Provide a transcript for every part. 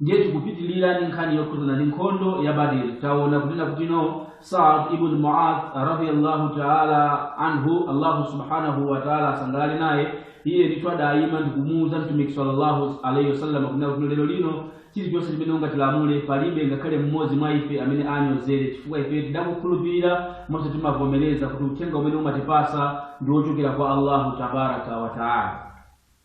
ndiye tikupitirira ndi nkhani yokhudzana ndi nkhondo ya badiri taona kunena kutino saad ibn muad radiallahu taala anhu allahu subhanahu wataala asangalale naye iye ndithu adayima ndikumuwuza mtumiki sallallahu alaihi wasallam kunena kutino lero lino chilichonse chimene ungatilamule palibe ngakhale mmodzi mwa ife amene anyozere chifukwa ife tidakukhulupirira komanso timavomereza kuti uthenga umene umatipasa ndi wochokera kwa allahu tabaraka wataala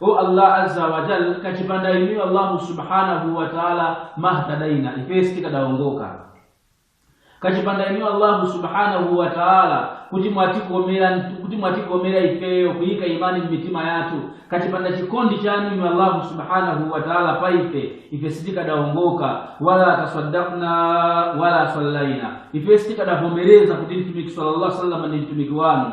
O Allah azza wa jal, kachipanda inuyo Allahu subhanahu wa ta'ala mahtadaina, ife sitikadaongoka. Kachipanda inuyo Allahu subhanahu wa ta'ala kuti mwatikomera ifeyo kuyika imani m'mitima yathu kachipanda chikondi chanu inu Allahu subhanahu wa ta'ala pa ife ife sitikadaongoka wala tasaddaqna wala sallaina ife sitikadavomereza kuti mtumiki sallallahu alaihi wasallam ndi mtumiki wanu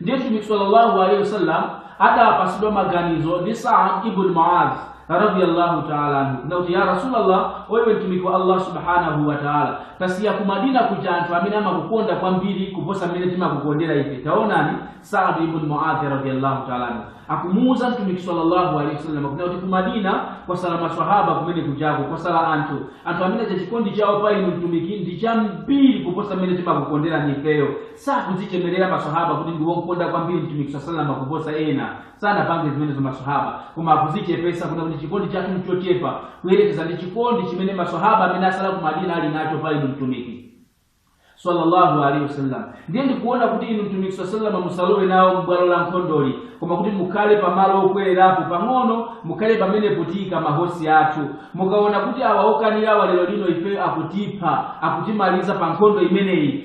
ndiye mtumiki sallallahu alaihi wasallam adapasidwa maganizo ndi saad ibn muaz radiyallahu taala anhu kunena kuti ya rasulallah e inu mtumiki wa allah subhanahu wa taala tasiya ku madina kuja anthu amene amakukonda kwambiri kuposa mmene timakukondera ife taonani saad ibn muaz radiyallahu taala anhu akumuuza mtumiki sallallahu alaihi wasallam kunena kuti ku madina kwatsala maswahaba kumene kujako kwatsala anthu anthu amene chachikondi chawo pa inu mtumiki ndi chambiri kuposa mmene timakukondera ifeyo sakudzichemerera maswahaba kuti ndi womkonda kwambiri mtumiki saa salama kuposa ena sanapange zimenezo maswahaba koma akudzichepetsa kuna kuti chikondi chathu nchochepa kuyerekeza ndi chikondi chimene maswahaba amene atsala ku madina ali nacho pa inu mtumiki sallallahu alaihi wasallam ndiye ndikuona kuti inu mtumiki saa salama musalowe nawo m'bwalo la nkhondoli koma kuti mukhale pamalo okwerapo pang'ono mukhale pamenepo tiika mahosi athu mukaona kuti awa okanirawa lero lino ife akutipha akutimaliza pa nkhondo imeneyi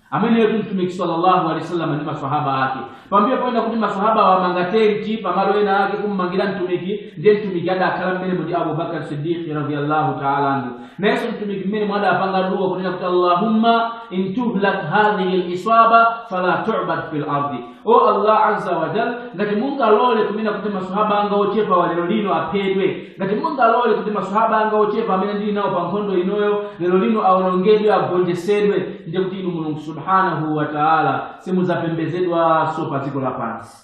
ameneyotu mtumiki sallallahu alaihi wasallam ndi maswahaba ake pambuyo poona kuti maswahaba amanga tenti pamalo ena ake kummangira mtumiki ndiye mtumiki adakhala mmenemo ndi abubakar siddiqi radiallahu taala anhu nayenso mtumiki mmenemo adapanga dua kunena kuti allahumma in tuhlak hadhihil isaba fala tubad fil ardi o allah azza wa jal ngati mungalole kunena kuti masahaba anga ochepawa lero lino aphedwe ngati mungalole kuti masahaba anga ochepa amene ndili nawo pa nkhondo inoyo lero lino awonongedwe agonjesedwe ndiye kuti inu mulungu subhanahu wa taala simudzapembezedwanso pa dziko lapansi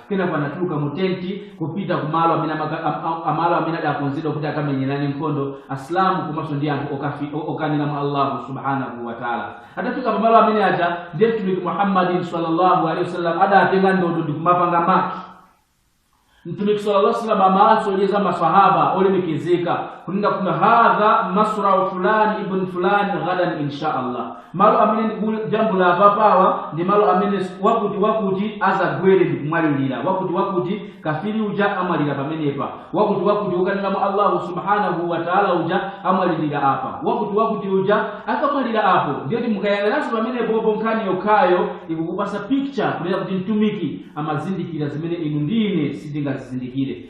Kenako anatuluka mu tenti kupita ku malo amene amaka- am- am- amalo amene adakonzedwa kuti akamenyerane nkhondo asilamu komanso ndi anthu okafi- o- okanira mwa allahu subhanahu wa taala atafika pamalo amene aja ndiye mtumiki muhammadin sallallahu alaihi wasallam adatenga ndodo ndi kumapanga maki mtumiki sallallahu alaihi wasallam amawasonyeza masahaba olemekezeka kunena kuti hadha masrau fulani ibn fulani ghadan insha allah malo amene ndikujambula apapawa ndi malo amene wakuti wakuti adzagwere ndikumwalirira wakuti wakuti kafiri uja amwalira pamenepa wakuti wakuti wokanira mwa allahu subhanahu wataala uja amwalirira apa wakuti wakuti uja akamwalira apo ndiye kuti mukayang'ananso pamenepopo nkhani yokhayo ikukupasa picture kunena kuti mtumiki amazindikira zimene inu ndi ine sitingazizindikire